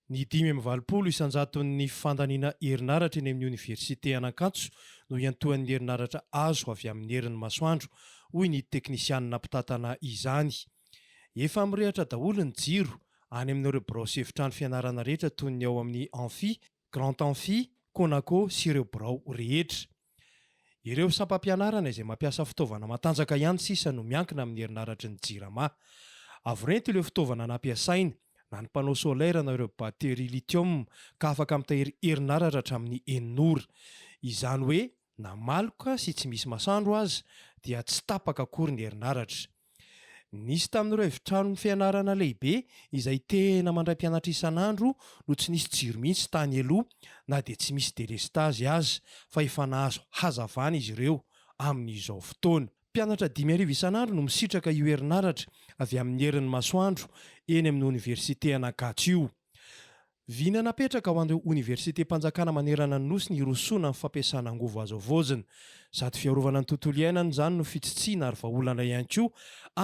Ny dimy amby valopolo isan-jaton'ny fandaniana herinaratra eny amin'ny oniversite an'Ankatso no iantohan'ny herinaratra azo avy amin'ny herin'ny masoandro, hoy ny teknisianina mpitantana izany. Efa mirehatra daholo ny jiro any amin'ireo birao sy efitrano fianarana rehetra toy ny ao amin'ny Amphi, Grand Amphi, Conaco sy ireo birao rehetra. Ireo sampam-pianarana izay mampiasa fitaovana matanjaka ihany sisa no miankina amin'ny herinaratry ny Jirama. Avo rento ireo fitaovana nampiasaina, na ny panneau solaire na ireo batterie lithium ka afaka mitahiry herinaratra hatramin'ny enina ora. Izany hoe na maloka sy tsy misy masandro aza dia tsy tapaka akory ny herinaratra. Nisy tamin'ireo efitranon' ny fianarana lehibe izay tena mandray mpianatra isan'andro no tsy nisy jiro mihitsy tany aloha na dia tsy misy delestazy aza fa efa nahazo hazavana izy ireo amin'izao fotoana. Mpianatra dimy arivo isan'andro no misitraka io herinaratra avy amin'ny herin'ny masoandro eny amin'ny oniversite Anankatso io. Vina napetraka ho an'ireo oniversitem-panjakana manerana ny Nosy ny hirosoana amin'ny fampiasana angovo azo havaozina. Sady fiarovana ny tontolo iainana izany no fitsitsiana ary vahaolana ihany koa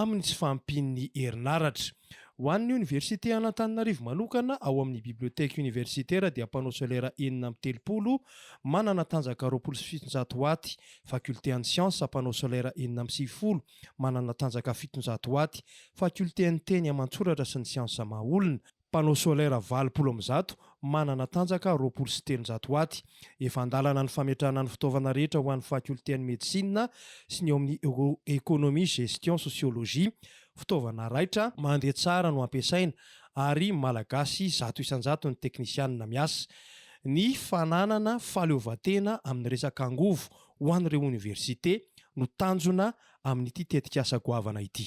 amin'ny tsy fahampian'ny herinaratra. Ho an'ny oniversite an'Antananarivo manokana, ao amin'ny bibliothèque universitaire dia panneau solaire enina amby telopolo manana tanjaka roapolo sy fitonjato watts, faculté an'ny siansa, panneau solaire enina amby sivifolo, manana tanjaka fitonjato hoaty, fakiolten'ny teny aman-tsoratra sy ny siansa maha-olona, panneau solaire valopolo amby zato, manana tanjaka roapolo sy telonjato hoaty. Efa an-dalana ny fametrahana ny fitaovana rehetra ho an'ny fakiolten'ny medisina sy ny eo amin'ny ekonomia, gestion, sosiolojia. Fitaovana raitra, mandeha tsara no ampiasaina ary Malagasy zato isan-jato ny teknisianina miasa. Ny fananana fahaleovantena amin'ny resaka angovo ho an'ireo oniversite no tanjona amin'ity tetikasa goavana ity.